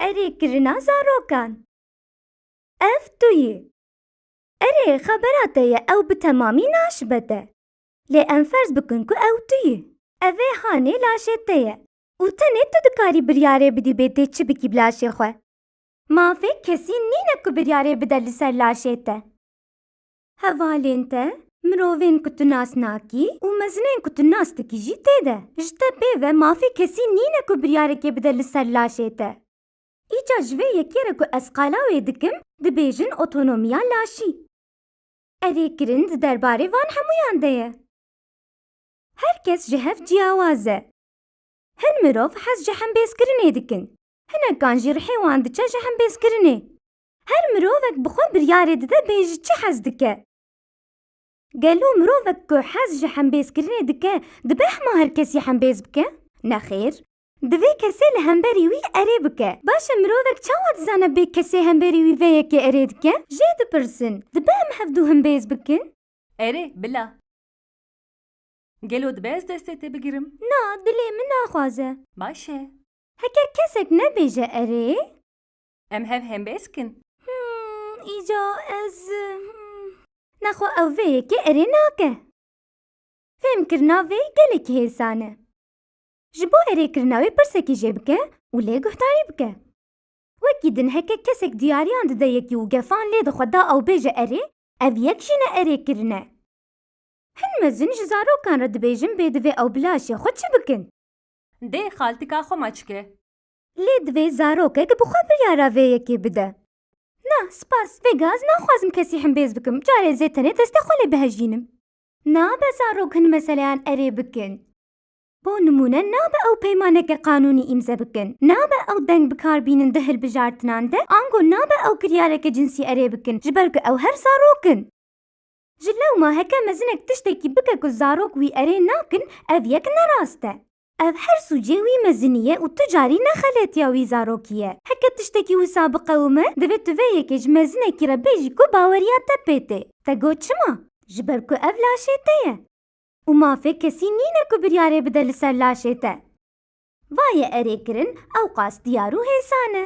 Erê kirina zarokan. Ev tu yî. Erê xebera te ye ew bi temamî naşibe te. Lê em ferz bikin ku ew tu yî. Ev ê hanê laşê te ye û tenê tu dikarî biryarê bidî bê tê çi bikî bi laşê xwe. Mafê kesî nîne ku biryarê bide li ser laşê te. Hevalên te, mirovên ku tu nas nakî û mezinên ku tu nas dikî jî tê de. Ji te pê ve mafê kesî nîne ku biryarekê bide li ser laşê te. Îcar ji vê yekê re ku ez qala wê dikim dibêjin otonomiya laşî. Erê kirin di derbarê van hemûyan de ye. Her kes ji hev ciyawaz e. Hin mirov hez ji hembêzkirinê dikin. Hinekan jî rihê wan diçe ji hembêzkirinê. Her mirovek bi xwe biryarê dide bê ji çi hez dike. Gelo mirovek ku hez ji hembêzkirinê dike dibe hema her kesî hembêz bike? Nexêr. Divê kesê li hemberî wî erê bike. Baş e mirovek çawa dizane bê kesê hemberî wî vê yekê erê dike? Jê dipirsin, dibe em hevdu hembêz bikin? Erê, bila. Gelo dibe ez destê te bigirim? Na, dilê min naxwaze. Baş e. Heke kesek nebêje erê? Em hev hembêz kin. Him, îca ez him. Nexwe ew vê yekê erê nake. Fêmkirina vê gelekî hêsan e. Ji bo erêkirina wê pirsekî jê bike û lê guhdarî bike. Wekî din heke kesek diyariyan dide yekî û gefan lê dixwe da ew bêje erê, ev yek jî ne erêkirin e. Hin mezin ji zarokan re dibêjin bê divê ew bi laşê xwe çi bikin. Dê xaltika xwe maçke. Lê divê zarokek bi xwe biryara vê yekê bide. Na, spas, vêga ez naxwazim kesî himbêz bikim, carê zê tenê destê xwe lê bihejînim. Nabe zarok hin meseleyan erê bikin. Bo nimûne nabe ew peymaneke qanûnî îmze bikin, nabe ew deng bikar bînin di hilbijartinan de, ango nabe ew kiryareke cinsî erê bikin, ji ber ku ew her zarok in. Ji lewma heke mezinek tiştekî bike ku zarok wî erê nakin, ev yek ne rast e. Ev her sûcê wî mezinî ye û tu carî nexeletiya wî zarokî ye. Heke tiştekî wisa biqewime, divê tu vê yekê ji mezinekî re bêjî ku baweriya te pê tê. Te got çima? Ji ber ku ev laşê te ye. Û mafê kesî nîne ku biryarê bide li ser laşê te. Va ye erê kirin, ewqas diyar û hêsan e.